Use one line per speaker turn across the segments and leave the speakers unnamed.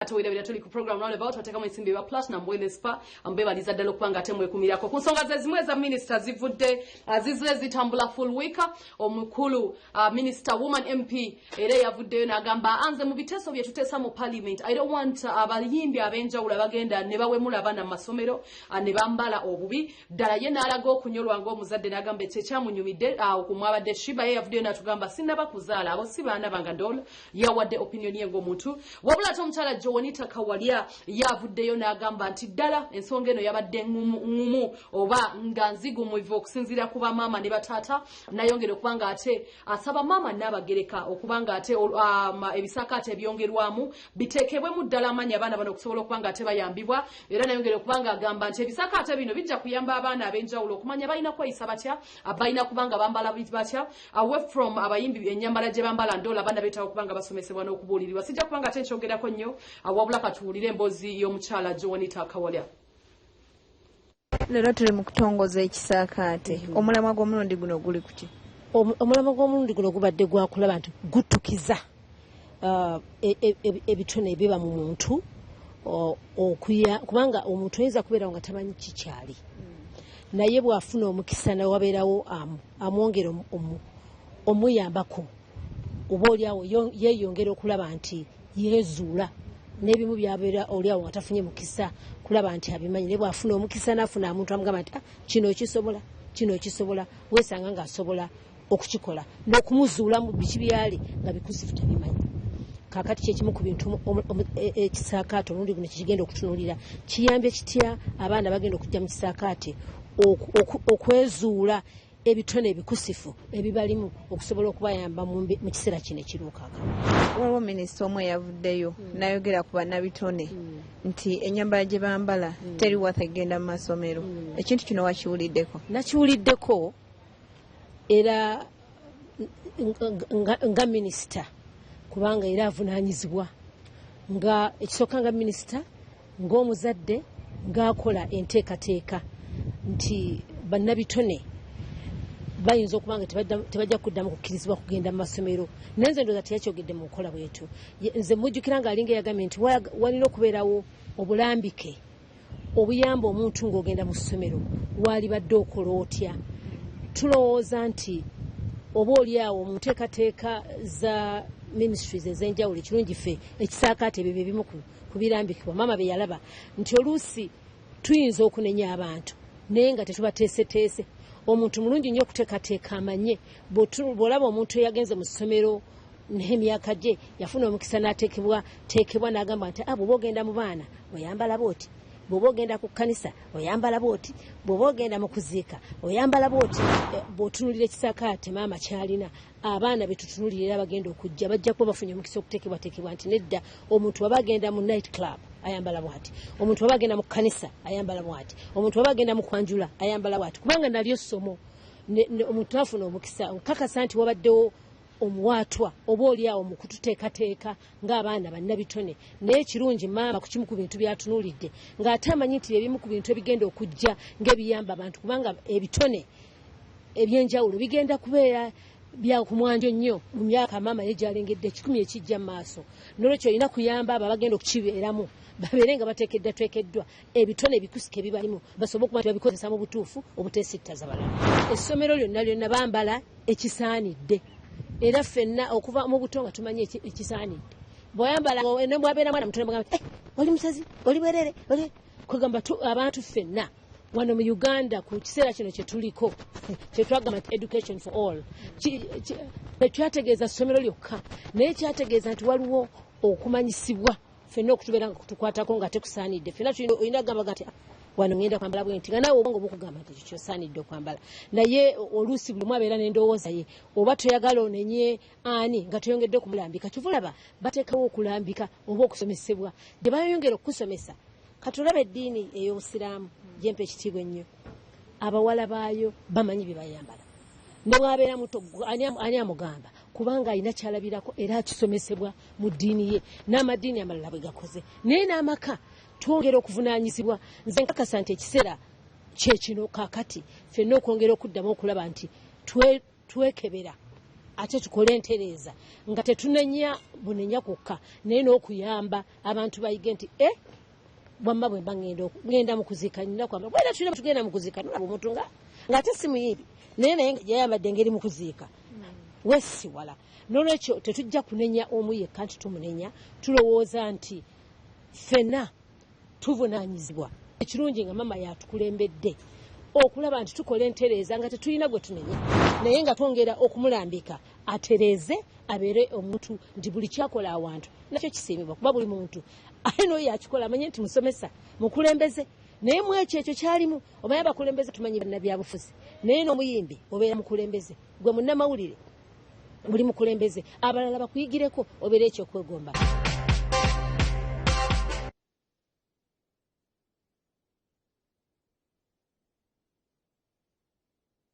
ate werabira tuli ku program roundabout batekamu ensimbi eba platinum wellness spa mbebaliza ddala okuba nga ate mwekumirako ku nsonga ze zimu eza minisita zivudde ah, zizire zitambula full week omukulu ah, minisita woman mp era eyavuddeyo n'agamba anze mu biteeso bye tuteesa mu parliament i don't want ah, abayimbi ab'enjawulo abagenda ne bawemula abaana mu masomero ne bambala obubi ddala ye n'alaga okunyolwa ng'omuzadde n'agamba ekyo ekyamunyumidde okumwabadde shiba ye yavuddeyo n'atugamba sinaba kuzaala abo si baana bange doola yawadde opinion ye ng'omuntu wabula ate omukyala joanita kawalya yavuddeyo n'agamba nti ddala ensonga eno yabadde ngumu oba nga nzigumuivu okusinziira ku bamaama ne bataata nayongera okuba nga ate asaba maama naabagereka okuba nga ate um, ebisaakaate ebyongerwamu biteekebwemu ddala amaanyi abaana bano okusobola okuba nga ate bayambibwa era nayongera okuba nga agamba nti ebisaakaate bino bijja kuyamba abaana ab'enjawulo okumanya balina kweyisa batya balina kuba nga bambala batya away from abayimbi enyambala gye bambala ndola abana betawo kubanga basomesebwa n'okubuulirirwa sijja kubanga ate nkyogerako nnyo awabula katuwulire emboozi y'omukyala joanita kawalya leero
tuli mu kutongoza ekisaakaate mm-hmm. omulamwa gw'omulundi guno guli kuki omulamwa
gw'omulundi guno gubadde gwakulaba nti gutukiza uh, e, e, e, ebitone ebiba mu muntu okuya kubanga omuntu oyinza kubeerawo nga tamanyi kikyali naye bwafuna omukisa nawabeerawo amwongera omuyambako oba oliawo yeyongera okulaba nti yezuula nebimu byabeera oliawo nga tafunye mukisa kulaba nti abimanyi naye bwafuna omukisa nafuna amuntu amugamba nti ah, kino okisobola kino okisobola wesanga nga asobola okukikola n'okumuzuulamu biki byali nga bikuzifu tabimanyi kakati kyekimu ku bintu e, e, ekisaakaate omulundi guno kyekigenda okutunuulira kiyambye kitya abaana bagenda okujja mu kisaakaate okwezuula ebitone ebikusifu ebibalimu okusobola okubayamba mu kiseera kino ekiruukaaka waliwo minisita
omu eyavuddeyo hmm. nayogera ku banabitone hmm. nti enyambala gye bambala hmm. teri wata egenda mu masomero ekintu kino wakiwuliddeko nakiwuliddeko
era nga minisita kubanga era avunaanyizibwa nga ekisooka nga minisita ng'omuzadde ng'akola enteekateeka nti bannabitone bayinza okuba nga tebajja kuddamu kukkirizibwa kugenda mu masomero naye nze ndooza teyakyogedde mu nkola bwetyo nze mujjukira ng'alinga eyagambye nti walina okubeerawo obulambike obuyamba omuntu ng'ogenda mu ssomero waalibadde okola otya tulowooza nti oba oli awo mu nteekateeka za ministries ez'enjawulo ekirungi ffe ekisaakaate ebyo byebimu ku birambikibwa maama bye yalaba nti oluusi tuyinza okunenya abantu naye nga tetubateeseteese omuntu mulungi nnyo okuteekateeka amanye bw'olaba omuntu eyagenze mu ssomero naye emyaka gye yafuna omukisa natekebwa tekebwa nagamba nti ah, bwoba ogenda mu baana oyambala bwoti bwoba ogenda ku kkanisa oyambala bwoti bwoba ogenda mu kuziika oyambala bwoti eh, bwotunulira ekisakaate maama kyalina abaana betutunulira era bagenda okujja bajja kuba bafunye omukisa okutekebwatekebwa nti nedda omuntu waba agenda mu night club ayambala bwati omuntu waba agenda mu kkanisa ayambala bwati omuntu waba agenda mu kwanjula ayambala bwati kubanga nalyo ssomo omuntu afuna omukisa nkakasa nti wabaddewo omuwaatwa oba oli awo mu kututeekateeka ng'abaana bannabitone naye kirungi maama ku kimu ku bintu byatunuulidde ng'ate amanyi nti ebimu ku bintu ebigenda okujja ng'ebiyamba abantu kubanga ebitone ebyenjawulo bigenda kubeera bya ku mwanjo nnyo mu myaka maama ye gyalengedde ekikumi ekijja mu maaso nolwekyo olina kuyamba abo abagenda okukibeeramu babeere nga bateekeddwa twekeddwa ebitone ebikusike bibalimu basobole okuba nti babikozesa mu butuufu obuteesittaza balala essomero lyonna lyonna bambala ekisaanidde era ffenna okuva mu buto nga tumanyi ekisaanidde bweyambala nebwabeera mwana mutone bwagamba eh, oli musazi oli bwerere kwegamba abantu ffenna wano mu uganda ku kiseera kino kyetuliko kyetwagamba nti education for all tekyategeeza ssomero lyokka naye kyategeeza nti waliwo okumanyisibwa fenna okutubeera nga kutukwatako nga tekusaanidde fenna olina kugambaga nti wano ngenda kwambala bwenti nga naawe obwongo bukugamba nti kikyo osaanidde okwambala naye oluusi buli omu abeera n'endowooza ye oba toyagala onenye ani nga toyongedde okumulambika kiva olaba bateekawo okulambika oba okusomesebwa gye bayongera okukusomesa kati olaba eddiini ey'obusiraamu gyempa ekitiibwa ennyo abawala baayo bamanyi bye bayambala ne bwabeera muto ani amugamba kubanga alina kyalabirako era akisomesebwa mu ddiini ye n'amaddiini amalala bwe gakoze naye n'amaka twongera okuvunaanyizibwa nze nkakasa nti ekiseera kyekino kakati fenna okwongera okuddamu okulaba nti twekebera ate tukole entereeza nga tetunenya bunenya kwokka naye n'okuyamba abantu bayige nti e wamma bwemba ngenda mukuzika nina kwamba bwera tulina tugenda mukuzika nolaba omuntu nga ngaate simuyibi naye naye yayambadde engeri mukuziika hmm. wesiwala nolwekyo tetujja kunenya omu yekka nti tumunenya tulowooza nti fena tuvunanyizibwa ekirungi nga mama yatukulembedde okulaba nti tukola entereeza nga tetulina gwe tunenya naye nga twongera okumulambika atereeze abeere omuntu nti buli kyakola awantu nakyo kisiimibwa kuba buli muntu aye noyo akikola amanye nti musomesa mukulembeze naye mwekyo ekyo kyalimu obaye abakulembeze tumanyi banabyabufuzi naye nomuyimbi obeera mukulembeze gwe munamawulire buli mukulembeze abalala bakuyigireko obeera ekyokwegomba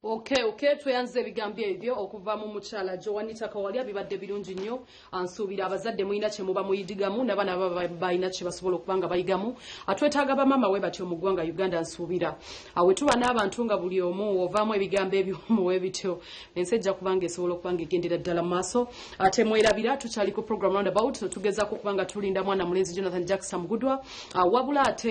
Okay, okay, tweyanziza ebigambo ebyo okuva mu mukyala Joanita Kawalya bibadde birungi nnyo ansuubira abazadde mulina kye muba muyidigamu n'abaana baba balina kye basobola okuba nga bayigamu atwetaaga bamaama we batyo mu ggwanga Uganda ansuubira awe tuba n'abantu nga buli omu ovaamu ebigambo ebimu we bityo ensi ejja kuba nga esobola okuba nga egendera ddala mu maaso ate mwerabira tukyali ku program roundabout tugezaako okuba nga tulinda mwana mulenzi Jonathan Jackson Mugudwa ah, wabula ate